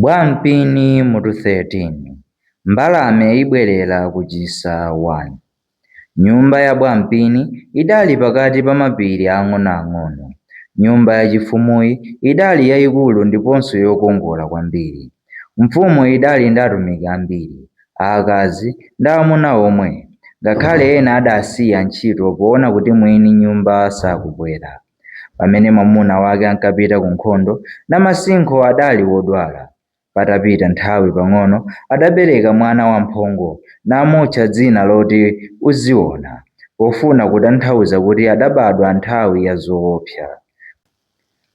Bwampini mutu 13 Mbalame ibwerera ku chisa 1 Nyumba ya Bwampini idali pakati pa mapiri aang'onoang'ono. Nyumba yachifumuyi idali yaikulu ndiponso yokongola kwambiri. Mfumu idali ndi atumiki ambiri, aakazi ndi aamuna omwe, ngakhale ena adasiya ntchito poona kuti mwini nyumba sakubwera. Pamene mwamuna wake ankapita ku nkhondo, Namasinkho adali wodwala. Patapita nthawi pang'ono, adabereka mwana wamphongo namutcha dzina loti Uziona pofuna kutanthauza kuti adabadwa nthawi ya zoopsa.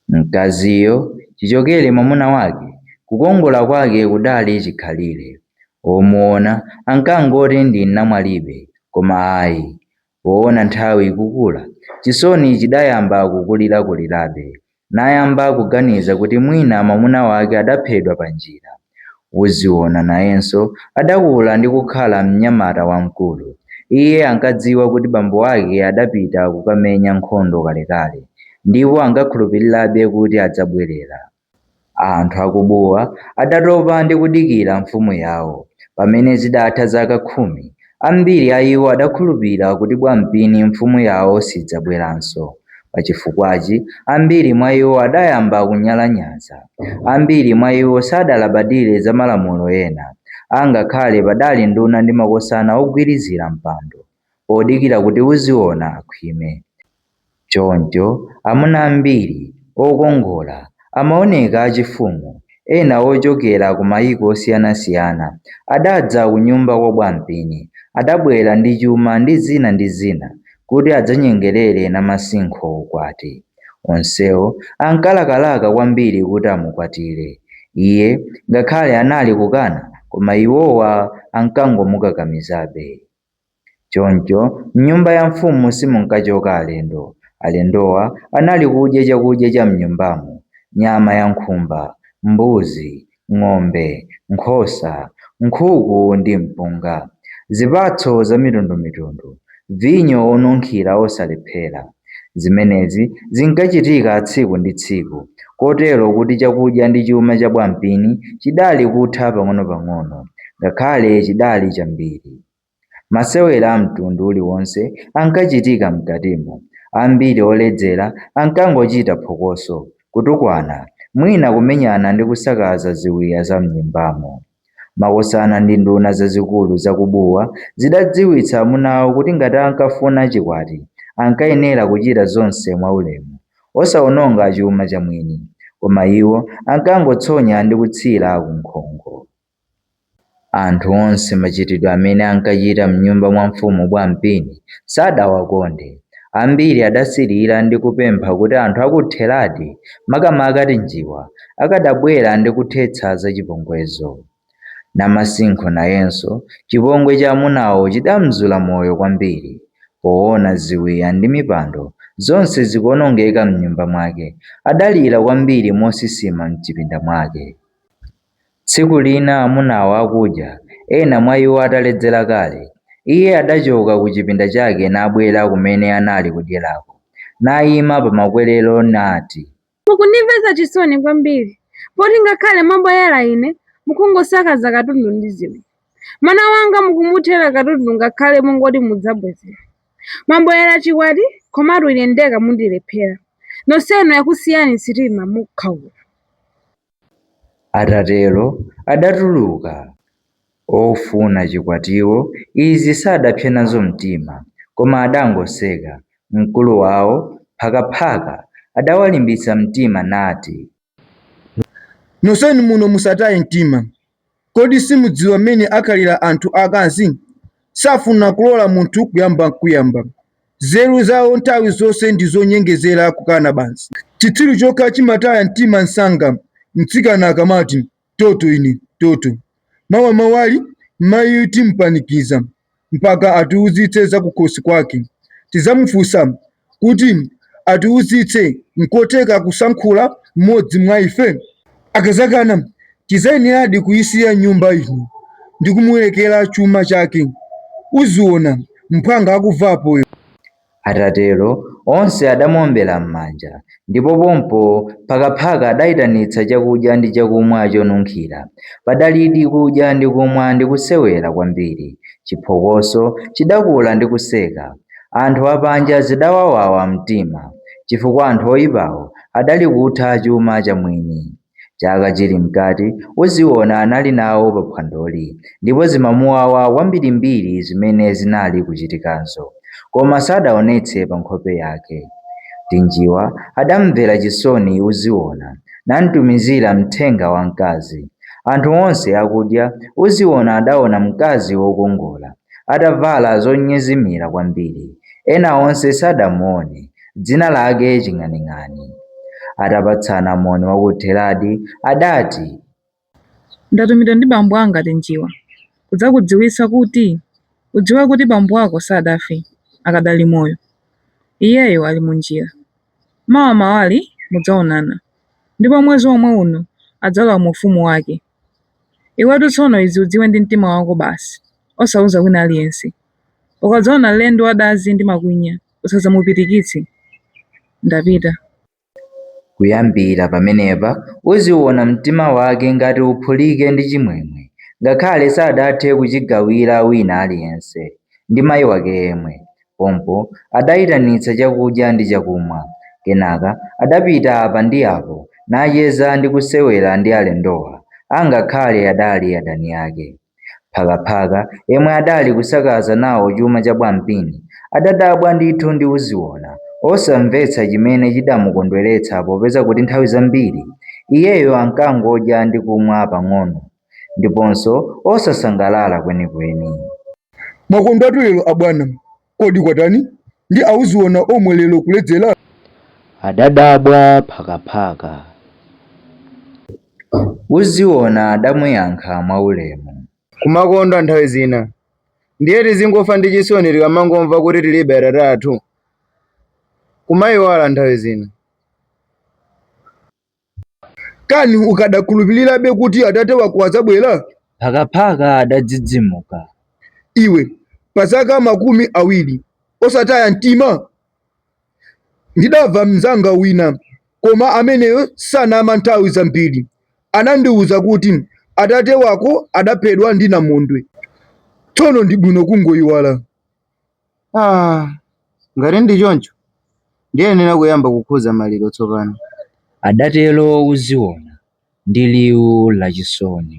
Mkaziyo chichokere mwamuna wake, kukongola kwake kudali chikhalire. Omuona ankangoti ndi namwalibe, koma ayi, Poona nthawi ikukula, chisoni chidayamba kukulirakulirabe, nayamba kuganiza kuti mwina mwamuna wake adaphedwa pa njira. Uziona nayenso adakula ndi kukhala mnyamata wamkulu. Iye ankadziwa kuti bambo ake adapita kukamenya nkhondo kalekale ndipo ankakhulupirirabe kuti adzabwerera. Anthu a ku Buwa adatopa ndi kudikira mfumu yawo. Pamene zidatha zaka khumi, ambiri a iwo adakhulupira kuti Bwampini mfumu yawo sidzabweranso. Pa chifukwachi, ambiri mwa iwo adayamba kunyalanyaza. Ambiri mwa iwo sadalabadire za malamulo ena, angakhale padali nduna ndi makosana ogwirizira mpando, odikira kuti Uziona akhwime. Choncho, amuna ambiri okongola amaoneka achifumu, ena ochokera ku mayiko osiyanasiyana, adadza kunyumba kwa Bwampini. Adabwera ndi chuma ndi zina ndi zina kuti adzanyengerere Namasinkho ukwati. Onsewo ankalakalaka kwambiri kuti amukwatire. Iye ngakhale anali kukana koma iwowa ankangomukakamizabe. Choncho m'nyumba ya mfumu simunkachoka alendo. Alendowa anali kudya chakudya cha m'nyumbamo, nyama ya nkhumba, mbuzi, ng'ombe, nkhosa, nkhuku ndi mpunga, zipatso zamitundumitundu, vinyo wonunkhira wosalephera. Zimenezi zinkachitika tsiku ndi tsiku, kotero kuti chakudya ndi chuma cha Bwampini chidali kutha pang'onopang'ono, ngakhale chidali chambiri. Masewera amtundu uliwonse ankachitika mkatimo. Ambiri oledzera ankangochita phokoso, kutukwana, mwina kumenyana ndi kusakaza ziwiya za m'nyumbamo. Makosana ndi nduna zazikulu za ku Buwa zidadziwitsa amunawo kuti ngati ankafuna chikwati, ankayenera kuchita zonse mwaulemu, osaononga chuma cha mwini. Koma iwo ankangotsonya ndi kutsira ku nkhongo. Anthu onse machitidwe amene ankachita m'nyumba mwa mfumu Bwampini sadawakonde. Ambiri adasirira ndi kupempha kuti anthu a ku Theradi, makamaka Tinjiwa, akadabwera ndi kuthetsa zachipongwezo. Namasinkho nayenso, chipongwe cha amunawo chidamzula moyo kwambiri. Poona ziwiya ndi mipando zonse zikuonongeka m'nyumba mwake, adalira kwambiri mosisima m'chipinda mwake. Tsiku lina amunawo akudya, ena mwa iwo ataledzera kale, Iye adachoka ku chipinda chake nabwera kumene anali kudyerako, naima pa makwerero nati. Mukundimvetsa chisoni kwambiri, poti ngakhale mwabwerera ine, mukungosakaza katundu ndi zida. Mwana wanga mukumuthera katundu ngakhale mungoti mudzabwezera. Mwabwerera chikwati, komatu ine ndekha mundilephera. Nonsenu yakusiyani sitima mukhaula. Atatero adatuluka. Ofuna chikwatiwo izi sadapse nazo mtima, koma adangoseka. Mkulu wawo, Phakaphaka, adawalimbitsa mtima nati. Nonsenu muno musataye mtima. Kodi simudziwa mmene akhalira anthu akazi? Safuna kulola munthu kuyamba nkuyamba. Nzeru zawo nthawi zonse ndi zonyengezera, kukana basi. Chitsiru chokha chimataya mtima msanga mtsikana akamati, Toto ine, toto. Mawa mawali, mmayiyu timupanikiza. mpaka atiuzitse zakukhosi kwake. Tidzamufunsa kuti atiuzitse nkotheka kusankhula mmodzi mwa ife? Akadzakana, tidzayeneradi kuisiya nyumba ino ndi kumulekera chuma chake. Uziona mphwanga akumva apoyo. Atatero, onse adamuombera m'manja, ndipo pompo Phakaphaka adaitanitsa chakudya ndi chakumwa chonunkhira. Padalidi kudya ndi kumwa ndi kusewera kwambiri. Chiphokoso chidakula ndi kuseka. Anthu apanja zidawawawa mtima, chifukwa anthu oipawo adali kutha chuma chamwini. Chaka chili mkati, Uziona anali nawo pa phwandoli ndipo zimamuwawa kwambirimbiri zimene zinali kuchitikazo, koma sadaonetse pa nkhope yake. Tinjiwa adamumvera chisoni Uziona namtumizira mthenga wamkazi. Anthu onse akudya, Uziona adaona mkazi wokongola atavala zonyezimira kwambiri. Ena onse sadamuone. dzina lake Ching'aning'ani. Atapatsana moni wakuthi eradi, adati. Ndatumidwa ndi bambo anga ati Njiwa kudzakudziwitsa kuti udziwe kuti bambo ako sadafe, akadali moyo. Iyeyo ali mu njira. Mawa mawa ali mudzaonana, ndipo mwezi womwe uno adzalowa mu ufumu wake. Iwetu tsono izi udziwe ndi mtima wako basi, osauza wina aliyense. Ukadzaona lendo wa dazi ndi makwinya. Usadzamupirikitse, ndapita. Kuyambira pamenepa Uziona mtima wake ngati uphulike ndi chimwemwe, ngakhale sadathe kuchigawira wina aliyense, ndi mai wake yemwe. Pompo adaitanitsa chakudya ndi chakumwa. Kenaka adapita apa ndi apo, nacheza ndi kusewera ndi alendowa, angakhale adali adani ake. Phakaphaka yemwe adali kusakaza nawo chuma cha Bwampini adadabwa ndithu ndi Uziona, osamvetsa chimene chidamukondweretsa popeza kuti nthawi zambiri iyeyo ankangodya ndi kumwa pang'ono ndiponso osasangalala kwenikweni. Mwakondwatu lero abwana, Kodi kwatani ndi a Uziona omwe lero kuledzera? adadabwa Phakaphaka. Uziona adamuyankha mwaulemu. kumakondwa nthawi zina. Ndiye tizingofa ndi chisoni tikamangomva kuti tilibe atate athu? Kumaiwala nthawi zina. Kani ukadakhulupirirabe kuti atate wako adzabwera? Phakaphaka adadzidzimuka. Iwe, pa zaka makumi awiri osataya mtima? Ndidamva mnzanga wina, koma ameneyo sanama nthawi zambiri, anandiwuza kuti atate wako adaphedwa ndi namondwe. Tsono ndi bwino kungoyiwala. Ah, ngati ndi choncho ndiyenera kuyamba kukhuza maliro tsopano. Adatero Uziona ndi liwu lachisoni.